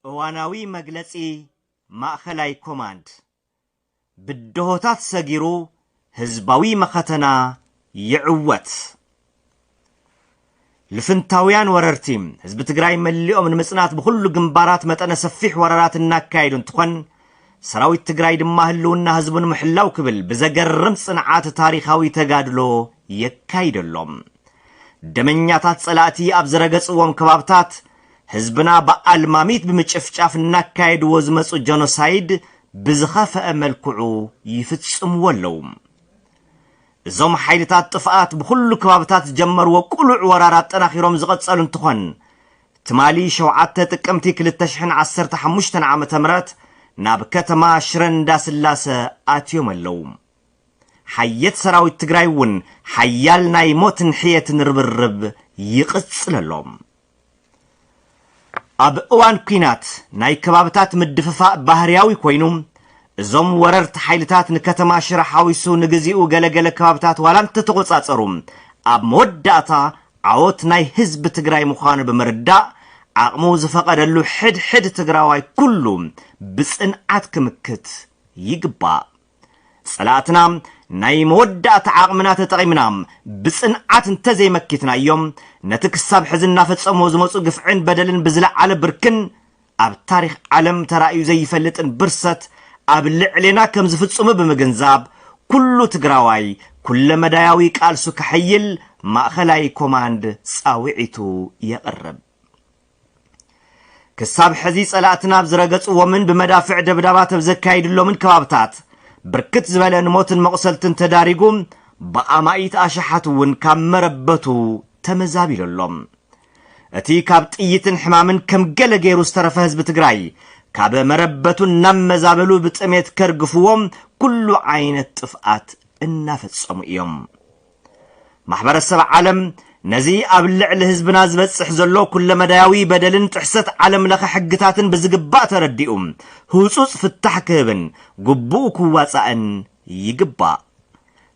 እዋናዊ መግለጺ ማእኸላይ ኮማንድ፣ ብደሆታት ሰጊሩ ህዝባዊ መኸተና ይዕወት! ልፍንታውያን ወረርቲ፣ ህዝቢ ትግራይ መሊኦም ንምፅናት ብኹሉ ግንባራት መጠነ ሰፊሕ ወረራት እናካየዱ እንትኾን፣ ሰራዊት ትግራይ ድማ ህልውና ህዝቡ ንምሕላው ክብል ብዘገርም ፅንዓት ታሪኻዊ ተጋድሎ የካይደሎም። ደመኛታት ፀላእቲ ኣብ ዝረገፅዎም ከባብታት ህዝብና ብኣልማሚት ብምጭፍጫፍ እናካየድዎ ዝመጹ ጀኖሳይድ ብዝኸፈኣ መልክዑ ይፍጽምዎ ኣለዉ። እዞም ሓይልታት ጥፍኣት ብኹሉ ከባብታት ዝጀመርዎ ቅሉዕ ወራር ኣጠናኺሮም ዝቐጸሉ እንትኾን ትማሊ ሸውዓተ ጥቅምቲ ክልተ ሽሕን ዓሰርተ ሓሙሽተን ዓመተ ምህረት ናብ ከተማ ሽረ እንዳስላሰ ኣትዮም ኣለዉ። ሓየት ሰራዊት ትግራይ እውን ሓያል ናይ ሞትን ሕየትን ርብርብ ይቕጽል ኣሎ። ኣብ እዋን ኲናት ናይ ከባብታት ምድፍፋእ ባህርያዊ ኮይኑ፣ እዞም ወረርቲ ሓይልታት ንከተማ ሽረ ሓዊሱ ንግዚኡ ገለ ገለ ከባብታት ዋላ እንተተቖጻጸሩ፣ ኣብ መወዳእታ ዓወት ናይ ህዝቢ ትግራይ ምዃኑ ብምርዳእ ዓቕሙ ዝፈቐደሉ ሕድ ሕድ ትግራዋይ ኩሉ ብጽንዓት ክምክት ይግባእ። ጸላእትና ናይ መወዳእታ ዓቕምና ተጠቒምና ብጽንዓት እንተዘይመኪትናዮም፣ ነቲ ክሳብ ሕዚ እናፈጸምዎ ዝመጹ ግፍዕን በደልን ብዝለዓለ ብርክን ኣብ ታሪኽ ዓለም ተራእዩ ዘይፈልጥን ብርሰት ኣብ ልዕሌና ከም ዝፍጽሙ ብምግንዛብ ኩሉ ትግራዋይ ኩለመዳያዊ ቃልሱ ከሐይል ማእኸላይ ኮማንድ ጻውዒቱ የቕርብ። ክሳብ ሕዚ ጸላእትና ኣብ ዝረገጽዎምን ብመዳፍዕ ደብዳባት ኣብ ዘካይድሎምን ከባብታት ብርክት ዝበለ ንሞትን መቑሰልትን ተዳሪጉ ብኣማኢት ኣሽሓት እውን ካብ መረበቱ ተመዛቢሉ ኣሎ። እቲ ካብ ጥይትን ሕማምን ከም ገለ ገይሩ ዝተረፈ ህዝቢ ትግራይ ካብ መረበቱ እናመዛበሉ ብጥሜት ከርግፍዎ ኩሉ ዓይነት ጥፍኣት እናፈጸሙ እዮም። ማሕበረሰብ ዓለም ነዚ ኣብ ልዕሊ ህዝብና ዝበፅሕ ዘሎ ኩለመዳያዊ በደልን ጥሕሰት ዓለም ለኸ ሕግታትን ብዝግባእ ተረዲኡ ህፁፅ ፍታሕ ክህብን ግቡኡ ክዋፃእን ይግባእ።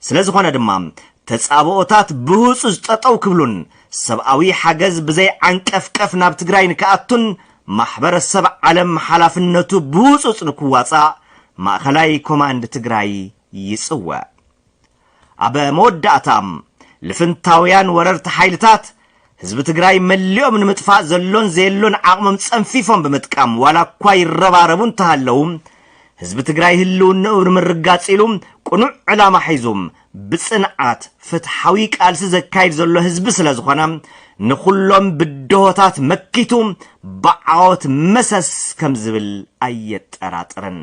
ስለዝኾነ ድማ ተፃብኦታት ብህፁፅ ጠጠው ክብሉን ሰብኣዊ ሓገዝ ብዘይ ዓንቀፍቀፍ ናብ ትግራይ ንክኣቱን ማሕበረሰብ ዓለም ሓላፍነቱ ብህፁፅ ንክዋፃእ ማእኸላይ ኮማንድ ትግራይ ይፅውዕ። ኣብ መወዳእታ፣ ልፍንታውያን ወረርቲ ሓይልታት፣ ህዝቢ ትግራይ መሊኦም ንምጥፋእ ዘሎን ዘየሎን ዓቕሞም ጸንፊፎም ብምጥቃም ዋላኳ ይረባረቡ እንተሃለዉ፣ ህዝቢ ትግራይ ህልውንኡ ንምርጋጽ ኢሉ ቅኑዕ ዕላማ ሒዙ ብጽንዓት ፍትሓዊ ቃልሲ ዘካይድ ዘሎ ህዝቢ ስለዝኾነ ንኹሎም ብድሆታት መኪቱ ብዓወት መሰስ ከምዝብል ኣየጠራጥርን።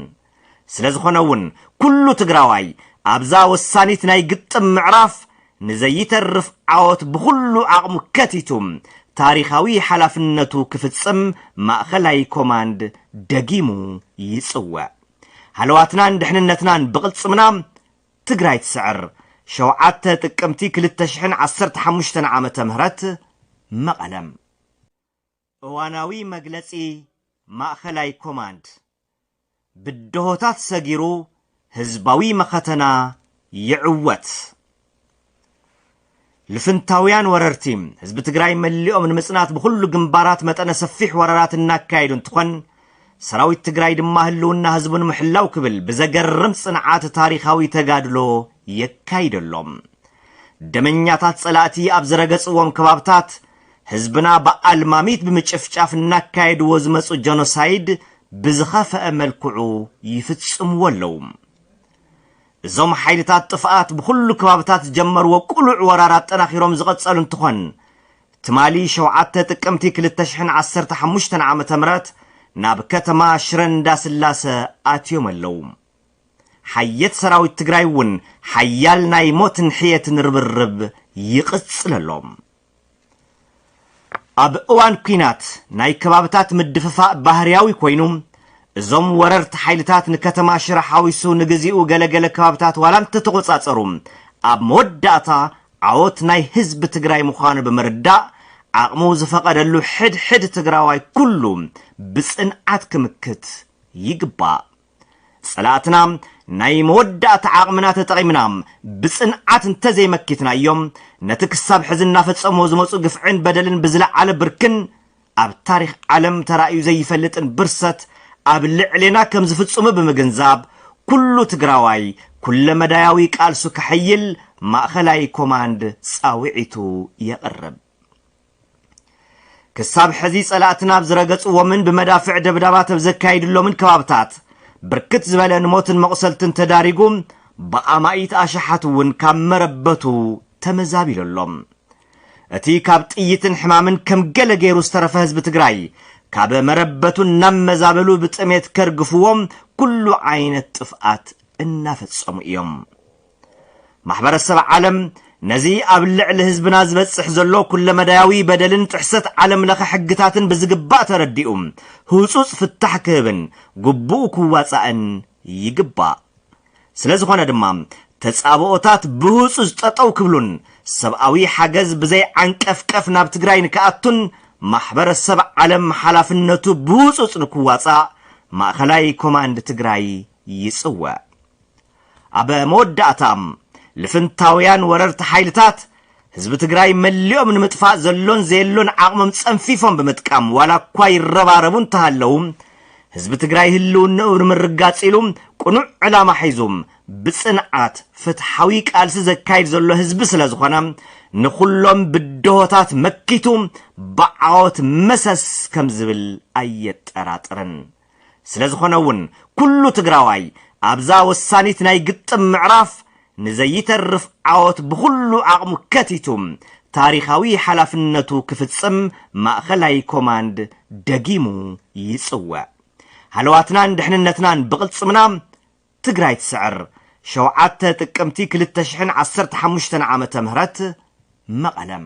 ስለ ዝኾነ እውን ኩሉ ትግራዋይ ኣብዛ ወሳኒት ናይ ግጥም ምዕራፍ ንዘይተርፍ ዓወት ብኹሉ ዓቕሙ ከቲቱ ታሪኻዊ ሓላፍነቱ ክፍፅም ማእኸላይ ኮማንድ ደጊሙ ይፅውዕ። ሃለዋትናን ድሕንነትናን ብቕልፅምና! ትግራይ ትስዕር! ሸውዓተ ጥቅምቲ ክልተ ሽሕን ዓሰርተ ሓሙሽተን ዓመተ ምህረት መቐለም። እዋናዊ መግለጺ ማእኸላይ ኮማንድ፣ ብደሆታት ሰጊሩ ህዝባዊ መኸተና ይዕወት! ልፍንታውያን ወረርቲ፣ ህዝቢ ትግራይ መሊኦም ንምፅናት ብኹሉ ግንባራት መጠነ ሰፊሕ ወረራት እናካየዱ እንትኾን፣ ሰራዊት ትግራይ ድማ ህልውና ህዝቡ ንምሕላው ክብል ብዘገርም ፅንዓት ታሪኻዊ ተጋድሎ የካይደሎም። ደመኛታት ፀላእቲ ኣብ ዝረገፅዎም ከባብታት ህዝብና ብኣልማሚት ብምጭፍጫፍ እናካየድዎ ዝመጹ ጀኖሳይድ ብዝኸፈኣ መልክዑ ይፍጽምዎ ኣለዉ። እዞም ሓይልታት ጥፍኣት ብኹሉ ከባብታት ዝጀመርዎ ቅሉዕ ወራር ኣጠናኺሮም ዝቐጸሉ እንትኾን፣ ትማሊ ሸውዓተ ጥቅምቲ ክልተ ሽሕን ዓሰርተ ሓሙሽተን ዓመተ ምህረት ናብ ከተማ ሽረ እንዳስላሰ ኣትዮም ኣለዉ። ሓየት ሰራዊት ትግራይ እውን ሓያል ናይ ሞትን ሕየትን ርብርብ ይቕጽል ኣሎ። ኣብ እዋን ኲናት ናይ ከባብታት ምድፍፋእ ባህርያዊ ኮይኑ፣ እዞም ወረርቲ ሓይልታት ንከተማ ሽረ ሓዊሱ ንግዚኡ ገለ ገለ ከባብታት ዋላ እንተተቖጻጸሩ፣ ኣብ መወዳእታ ዓወት ናይ ህዝቢ ትግራይ ምዃኑ ብምርዳእ ዓቕሙ ዝፈቐደሉ ሕድ ሕድ ትግራዋይ ኩሉ ብጽንዓት ክምክት ይግባእ። ጸላእትና ናይ መወዳእታ ዓቕምና ተጠቒምና ብጽንዓት እንተዘይመኪትናዮም፣ ነቲ ክሳብ ሕዚ እናፈጸምዎ ዝመጹ ግፍዕን በደልን ብዝለዓለ ብርክን ኣብ ታሪኽ ዓለም ተራእዩ ዘይፈልጥን ብርሰት ኣብ ልዕሌና ከም ዝፍጽሙ ብምግንዛብ ኩሉ ትግራዋይ ኩለመዳያዊ ቃልሱ ከሐይል ማእኸላይ ኮማንድ ጻውዒቱ የቕርብ። ክሳብ ሕዚ ጸላእትና ኣብ ዝረገጽዎምን ብመዳፍዕ ደብዳባት ኣብ ዘካይድሎምን ከባብታት ብርክት ዝበለ ንሞትን መቑሰልትን ተዳሪጉ ብኣማኢት ኣሽሓት እውን ካብ መረበቱ ተመዛቢሉ ኣሎ። እቲ ካብ ጥይትን ሕማምን ከም ገለ ገይሩ ዝተረፈ ህዝቢ ትግራይ ካብ መረበቱ እናመዛበሉ ብጥሜት ከርግፍዎም ኩሉ ዓይነት ጥፍኣት እናፈጸሙ እዮም። ማሕበረሰብ ዓለም ነዚ ኣብ ልዕሊ ህዝብና ዝበፅሕ ዘሎ ኩለመዳያዊ በደልን ጥሕሰት ዓለም ለኸ ሕግታትን ብዝግባእ ተረዲኡ ህፁፅ ፍታሕ ክህብን ግቡኡ ክዋፃእን ይግባእ። ስለዝኾነ ድማ ተፃብኦታት ብህፁፅ ጠጠው ክብሉን ሰብኣዊ ሓገዝ ብዘይ ዓንቀፍቀፍ ናብ ትግራይ ንክኣቱን ማሕበረሰብ ዓለም ሓላፍነቱ ብህፁፅ ንክዋፃእ ማእኸላይ ኮማንድ ትግራይ ይፅውዕ። ኣብ መወዳእታ፣ ልፍንታውያን ወረርቲ ሓይልታት፣ ህዝቢ ትግራይ መሊኦም ንምጥፋእ ዘሎን ዘየሎን ዓቕሞም ጸንፊፎም ብምጥቃም ዋላኳ ይረባረቡ እንተሃለዉ፣ ህዝቢ ትግራይ ህልውንኡ ንምርጋጽ ኢሉ ቅኑዕ ዕላማ ሒዙ ብጽንዓት ፍትሓዊ ቃልሲ ዘካይድ ዘሎ ህዝቢ ስለዝኾነ ንኹሎም ብድሆታት መኪቱ ብዓወት መሰስ ከምዝብል ኣየጠራጥርን። ስለዝኾነ እውን ኩሉ ትግራዋይ ኣብዛ ወሳኒት ናይ ግጥም ምዕራፍ ንዘይተርፍ ዓወት ብኹሉ ዓቕሙ ከቲቱ ታሪኻዊ ሓላፍነቱ ክፍፅም ማእኸላይ ኮማንድ ደጊሙ ይፅውዕ። ሃለዋትናን ድሕንነትናን ብቕልፅምና! ትግራይ ትስዕር! ሸውዓተ ጥቅምቲ ክልተ ሽሕን ዓሰርተ ሓሙሽተን ዓመተ ምህረት መቐለም።